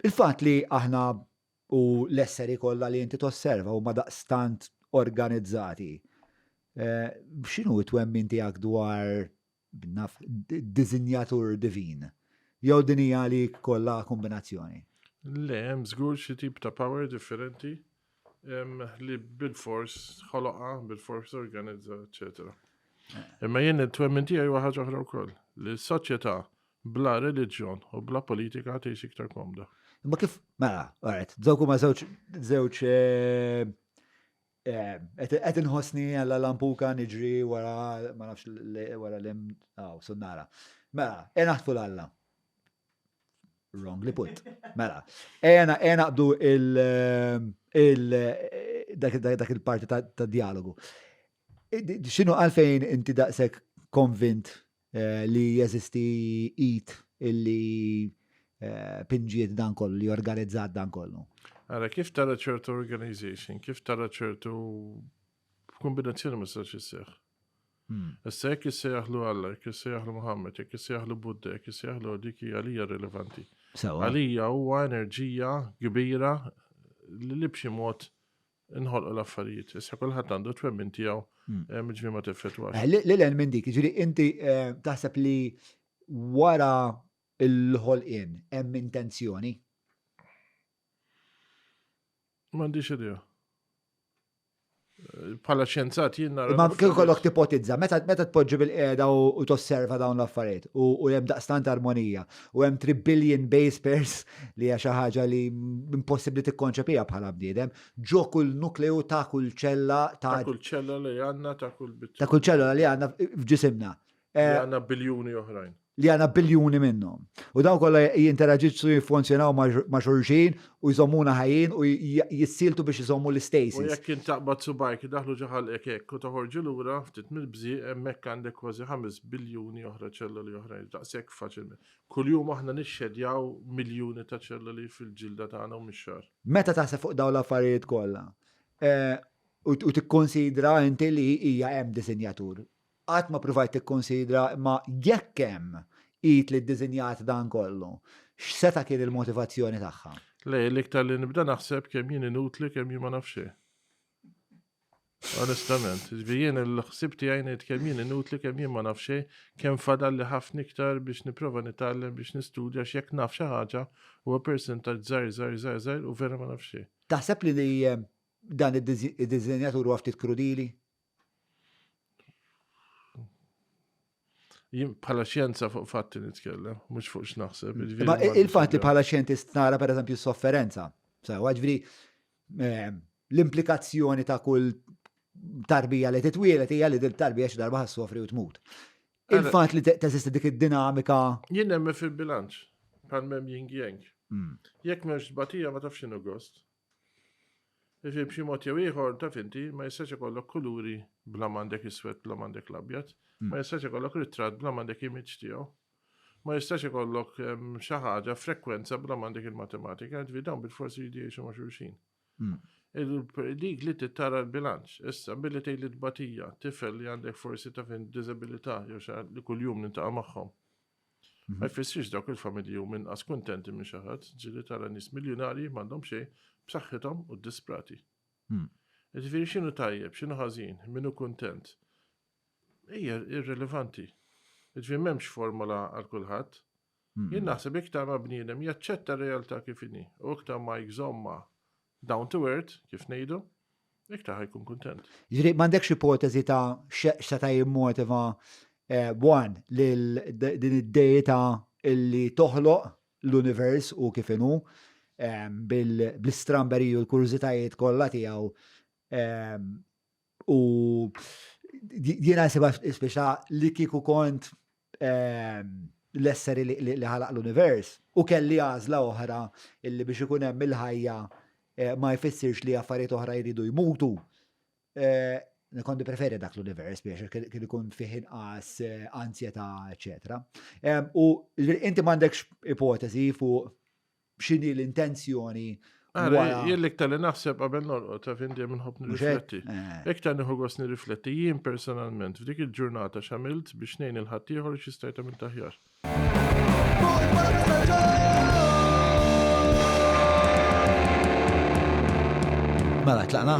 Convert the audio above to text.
Il-fatt li aħna u l-esseri kollha li inti tosserva huma daqstant organizzati, x'inhu t-twemmin tiegħek dwar, naf, diżinjatur divin? Jew din hija għalik kollha kombinazzjoni? Le, hemm żgur xi tip ta' power differenti li bilfors ħoloqha, bilfors organizza, eċċetera. Imma jien it-twemmin tiegħi huwa ħaġa oħra wkoll, li s-soċjetà bla reliġjon u bla politika tgħix iktar komda. Ma kif, mela, għaret, dawk huma żewġ żewġ eh, eh, qed inħossni għalla lampuka niġri wara ma nafx wara l-im aw sunnara. Mela, ena ħtfu l-alla. Wrong li put. Mela, ena ena qbdu il eh, dak il-parti ta' dialogu. X'inhu għalfejn inti daqshekk konvint li jeżisti id illi pinġiet dan kollu, li organizzat dan kollu. Ara, kif tara ċertu organization, kif tara ċertu kombinazzjoni ma sarx isseħ. Hmm. Issa jekk issejjaħlu Alla, jekk issejjaħlu Muhammad, jekk issejjaħlu Buddha, jekk issejjaħlu dik hija għalija rilevanti. Għalija huwa enerġija kbira li b'xi mod Inħolqu l-affarijiet, issa kulħadd għandu twemmin tiegħu, hmm. eh, miġri ma tifetwa. Eh, L-len minn dik, ġiri inti eh, taħseb li wara l-ħolqien hemm intenzjoni? M'għandix idea. Pala ċenzat jien nara. Ma kien kollok tipotizza, meta meta tpoġġi bil-qiegħda u tosserva dawn l-affarijiet u hemm daqstant armonija u hemm 3 billion base pairs li hija xi ħaġa li impossibbli tikkonċepija bħala bniedem, ġo kull nukleu ta' kull ċella ta' kull ċella li għandna ta' kull bit. Ta' kull ċella li għandna f'ġisimna. Li eh, għandna biljuni oħrajn. Li għandna biljuni minnhom. U dawn kollha jinteraġixxu jiffunzjonaw ma' xulxin u jżommuna ħajjin u jissieltu biex iżommu l-istasis. U jekk int taqbad subajk idaħlu ġo ħalqek hekk u toħorġu lura ftit mill-bżieq hemmhekk għandek kważi ħames biljuni oħra ċelloli oħrajn daqshekk faċilment. Kuljum aħna nixxedjaw miljuni ta' ċelloli fil-ġilda tagħna u mix-xagħar. Meta taħseb fuq dawn l-affarijiet kollha, u tikkunsidra inti li hija hemm disinjatur Qatt ma ppruvajt tikkunsidra, imma jekk hemm, id li ddiżinjat dan kollu, x'seta' kien il-motivazzjoni tagħha? Le, l-iktar li nibda naħseb kemm jien inutli, kemm jien ma naf xejn. Onestament, jiġifieri jien il-ħsieb tiegħi ngħid kemm jien inutli, kemm jien ma naf xejn, kemm fadalli ħafna iktar biex nipprova nitgħallem, biex nistudja għax jekk naf xi ħaġa huwa persentaġġ żgħir, żgħir, żgħir, żgħir u vera ma naf xejn. Taħseb li dan id-diżinjatur huwa ftit krudili? Jien bħala xjenza fuq fatti nitkellem, mhux fuq x'naħseb. Mm. Jiġifieri Ma il-fatt li bħala xjentist nara pereżempju s-sofferenza. Sewa ġifieri ehm, l-implikazzjoni ta' kull tarbija li titwielet hija li din tarbija xi darba ħassofri u tmut. Il-fatt li teżisti dik id-dinamika. Jien hemm fil-bilanċ bħal mem jing jeng. Mm. Jekk m'hemmx tbatija ma tafx inhu gost. Ġifieri b'xi mod jew ieħor taf inti ma jistax ikollok kuluri bla ma għandek iswed bla ma għandek l-abjad, hmm. ma jistax ikollok ritratt bla ma għandek image tiegħu. Ma jistax ikollok ehm, xi ħaġa frekwenza bla ma għandek il-matematika, ġifieri dawn bil-forsi jridu jgħixu ma' xulxin. Hmm. Dik li tittara l-bilanċ, issa billi tgħid li tbatija, tifel li għandek forsi ta' fin disabilità jew li kuljum nintaqa' magħhom. Mhm. Ma jfissirx dawk il-familji u minn qas kuntenti minn xi ħadd, ġieli tara nies miljunarji m'għandhom xejn b'saħħithom u disprati. Hmm. Ġifieri x'inhu tajjeb, x'inhu ħażin, min hu kuntent. Hija irrelevanti. Ġifieri m'hemmx formola għal kulħadd. Hmm. Jien naħseb iktar ma' bniedem jaċċetta r-realtà kif inhi u iktar ma jżomma Down to earth, kif ngħidu, iktar ħajkun kuntent. Ġri, m'għandekx ipoteżi ta' x'seta' jimmotiva eh, wan lil din id-dejta illi toħloq l-univers u kif inhu eh, bl-istramberi u l-kurżitajiet kollha tiegħu eh, U jiena nsiba speċa li kieku kont ehm, l-esseri li ħalaq l-univers u kelli għażla oħra illi biex ikun hemm il-ħajja eh, ma jfissirx li affarijiet oħra jridu jmutu. Eh, Nikondi preferi dak l-univers biex kien ikun fih inqas eh, ansjeta, eċetera. Ehm, u inti m'għandekx ipoteżi fuq x'inhi l-intenzjoni Jien iktar li naħseb qabel norqod, ta' fin dejjem nħobb nirrifletti. Eh. Iktar nieħu gost nirrifletti jien personalment f'dik il-ġurnata x'għamilt biex ngħin il-ħaddieħor xi stajt għamil taħjar. Mela tlaqna.